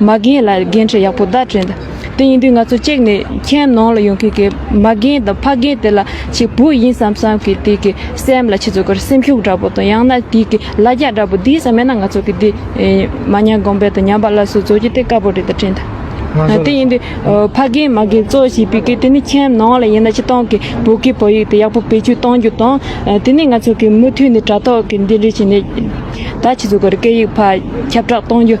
མ་རྒན་ལ་འགན་འཁྲི་ཡག་པོ་བདག་སྤྲོད་འདི་ཡིན་དུས་ང་ཚོ་གཅིག་ནས་ཁྱེད་ནང་ལ་ཡོང་མཁན་གྱི་མ་རྒན་དང་ཕ་རྒན་དེ་ལ་གཅིག་བུ་ཡིན་བསམ་བསམ་གྱི་དེ་གི་སེམས་ལ་ཁྱེད་ཚོ་གར་སེམས་ཤུགས་འདྲ་པོ་དང་ཡང་ན་དེ་གི་ལ་རྒྱ་འདྲ་པོ་འདིའི་ས་མེད་ན་ང་ཚོ་གི་དེ་མ་ཉམས་གོང་འཕེལ་དང་ཉམས་པ་སླར་གསོ་བཟོ་རྒྱུ་དེ་དཀའ་པོ་རེད་དྲན་འདི་དེ་ཡིན་དུས་ཕ་རྒན་མ་རྒན་གཙོ་བྱས་པའི་གི་དེ་ནི་ཁྱེད་ནང་ལ་ཡིན་ན་ཕྱི་ཏང་གི་བོད་གི་བོད་ཡིག་དེ་ཡག་པོ་བེད་སྤྱོད་གཏོང་རྒྱུ་དང་དེ་ནས་ང་ཚོ་གི་མུ་མཐུད་ནས་དྲ་ཐོག་གི་འདི་འདྲི་བྱས་ནས་ད་ཁྱེད་ཚོ་གར་སྐད་ཡིག་ཕར་ཁྱབ་བསྒྲགས་གཏོང་རྒྱུ།